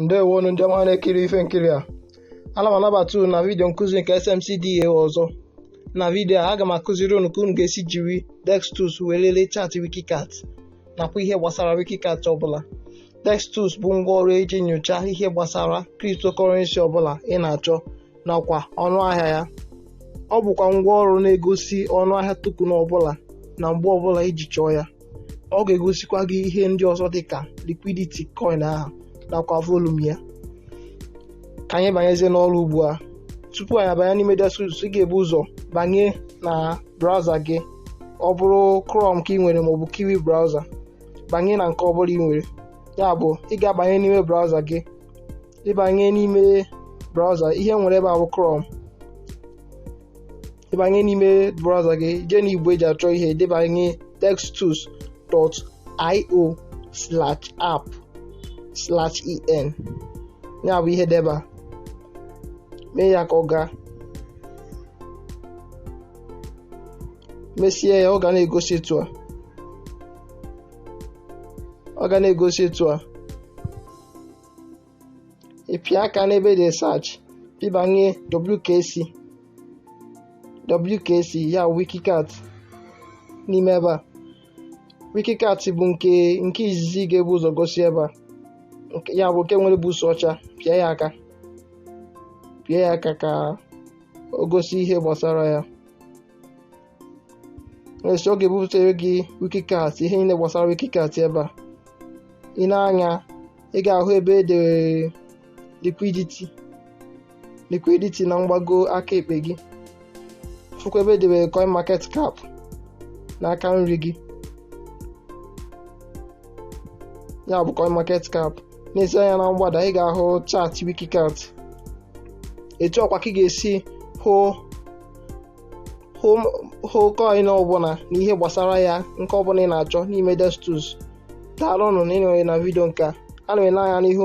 ndewonu ndị ọma na-ekiri ife nkiri a ana m anabata unu na vidiyo nkụzi nke SMC DAO ọzọ na vidiyo a aga m akụziri unu ka unu ga-esi jiri DexTools wee lelee chaatị Wikicat nakwa ihe gbasara Wikicat ọbụla DexTools bụ ngwaọrụ eji nyocha ihe gbasara cryptocurrency ọbụla ị na-achọ nakwa ọnụ ahịa ya ọ bụkwa ngwa ọrụ na-egosi ọnụ ahịa token ọbụla na mgbe ọbụla iji chọọ ya ọ ga-egosikwa gị ihe ndị ọzọ dịka liquidity coin ahụ nakwa volume ya ka anyị banyezie n'ọrụ ugbu a tupu anyị abanye n'ime DexTools ị ga-ebu ụzọ banye na browser gị ọ bụrụ Chrome ka ị nwere maọbụ Kiwi browser banye na nke ọ bụla ị nwere ya bụ ị ga-abanye n'ime browser gị ịbanye n'ime browser ihe nwere ebe a bụ Chrome ịbanye n'ime browser gị jee na igbe eji achọ ihe debanye dextools.io slash app slash en ya bụ ihe deba mee ya ka ọ gaa mesie ya ọ ga na-egosi etu a ọ ga na-egosi etu a ịpịa aka n'ebe dị search pịbanye WKC WKC ya wikicat n'ime ebe a wikicat bụ nke nke izizi ga-ebu ụzọ gosi ebe a Nke- ya bụ nke nwere buusu ọcha pịa ya aka pịa ya aka ka o gosi ihe gbasara ya mesịa ọ ga-ebutere gị wikicat ihe niile gbasara wikicat ebe a i nee anya ị ga-ahụ ebe e dere liquidity liquidity na mgbago aka ekpe gị fụkwa ebe edere coin market cap n'aka nri gị ya bụ coin market cap neezie anya na mgbada ị ga-ahụ chaatị wikicat etu ahụkwa ka ị ga-esi hụ hụ coin ọbụla na ihe gbasara ya nke ọbụla ị na-achọ n'ime DexTools daalụnụ na ịnọnyere na vidio nke a ana m ele anya n'ịhụ